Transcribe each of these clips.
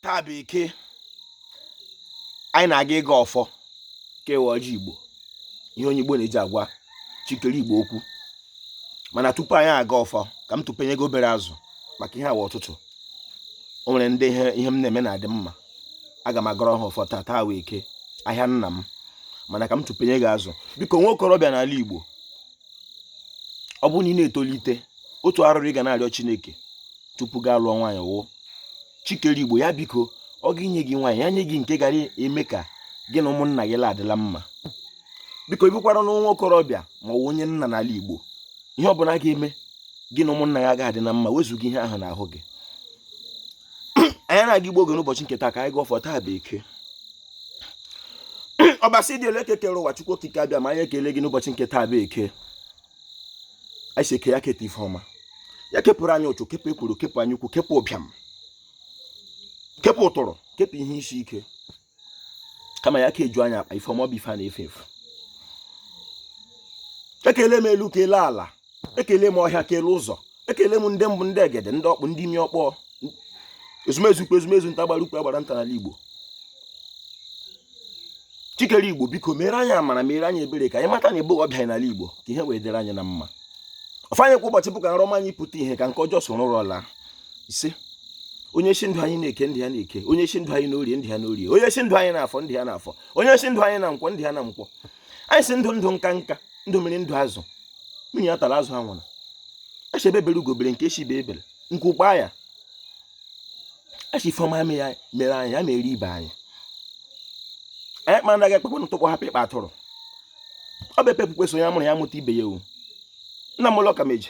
taa bụ eke anyị na-aga ịgọ ọfọ kewe ọjị igbo ihe onye igbo na-eji agwa chi kere igbo okwu mana tupu anyị agọọ ọfọ ka m tụpenye gị obere azụ maka ihe a wụ ụtụtụ o nwere ndị ihe m na-eme na-adị mma aga m agọrọ ha ọfọ taa taa wụ eke ahịa nna m mana ka m tụpenye gị azụ biko nwa okorobịa n'ala igbo ọ bụrụ na ị na-etolite otu arịrịọ ị ga na-arịọ chineke tupu gị alụọ nwaanyị wụ chi kere igbo ya biko ọ ga-enye gị nwaanyị ya nye gị nke gara eme ka gị na ụmụnna gị la-adị la mma biko ị bụkwaranụ nwa okorobịa ma ọ wụ onye nna n'ala igbo ihe ọ bụla ga-eme gị na ụmụnna gị agaghị adị na mma wezụga ihe ahụ n'ahụ gị anyị na-aga ịgọ ọjị n'ụbọchị nke taa ka anyị gọọ taa bụ eke ọbasi dị elu eke kere ụwa chukwu okike abịama anyị ekele gị n'ụbọchị nke taa bụ eke anyị sị eke ya keta ife ọma ya kepụrụ anyị ụchụ kepụ ekworo kepụ anya ukwu kepụ ụbịam kepụ ụtụrụ kepụ ihe isi ike kama ya keju anyị akpa ife ọma bụ ife a na-efe efe ekele m elu kele ala ekele m ọhịa kele ụzọ ekele m ndị mbụ ndị egede ndị ọkpụ ndị imi ọkpọ ezumezu ukwu ezumezu nta agbara ukwu agbara nta n'ala igbo chi kere igbo biko mere anyị amara mere anyị ebere ka anyị mata na ebe ọbịa n'ala igbo ka ihe wee dịrị anyị na mma ọfọ anyị kwa ụbọchị bụ ka nrọ ọma anyị pụta ihe ka nke ọjọọ soro ụra laa ise onye sị ndụ anyị n'eke ndụ ya n'eke onye sị ndụ anyị n'orie ndụ ya n'orie onye sị ndụ anyị n'afọ ndụ ya n'afọ onye sị ndụ anyị na nkwọ ndụ ya na nkwọ anyị sị ndụ ndụ nka nka ndụ mmiri ndụ azụ mmiri ya atala azụ ya anwụla a sị egbe bere ugo bere nke sị ibe ebela nku kwaa ya a sị ife ọma mere anyị ya mere ibe anyị anyị kpara anaghị ekpekwe n'ụtụkpọ hapụ ịkpa atụrụ ọ bụ epe ekpukwe so ya mụrụ ya mụta ibe ya ewu nna m ụlọ ka meji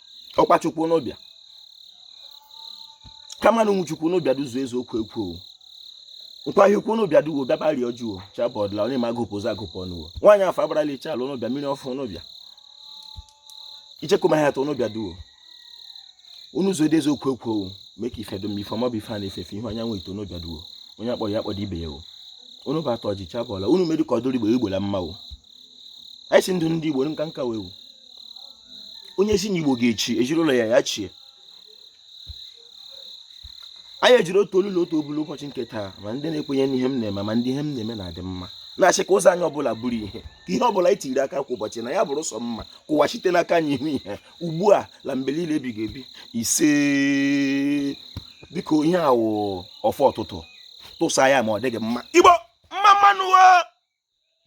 ọkpa chukwu unu bịa kamanu nwa chukwu unu bịa duzu eziokwu ekwu nkwahie ukwu unu bịa duo bịaba rịọ juo chabọdla onye ma agụpụ ụzọ agụpụ ọnụwo nwaanyị afọ abarala iche ala unu bịa mmiri ọfụ unu bịa ichekuma ha atọ unu bịa duo n'ụzọ eziokwu ekwu mee ka ife dum ife ọma bụ ife a na-efe efe ihe anyanwụ ito unu bịa duo onye akpọrọ ya akpọdo ibe ya o unu bụ atọ ji chabọla unu mere ka ọ dịrị igbo igbo na mma o anyị sị ndụ ndị igbo nka nka wee onye sị na igbo ga-echi ezi na ụlọ ya ya chie anyị ejiri otu olu na otu obi n'ụbọchị nke taa ma ndị na-ekwenye n'ihe m na-eme ma ndị ihe m na-eme na-adị mma na-asị ka ụzọ anyị ọ bụla bụrụ ihe ka ihe ọ bụla anyị tiri aka kwa ụbọchị na ya bụrụ sọ mma ka ụwa site n'aka anyị hụ ihe ugbu a na mgbe niile ebighị ebi ise biko ihe a wụ ọfọ ụtụtụ tụsa ya ma ọ dị gị mma igbo mma mma nụ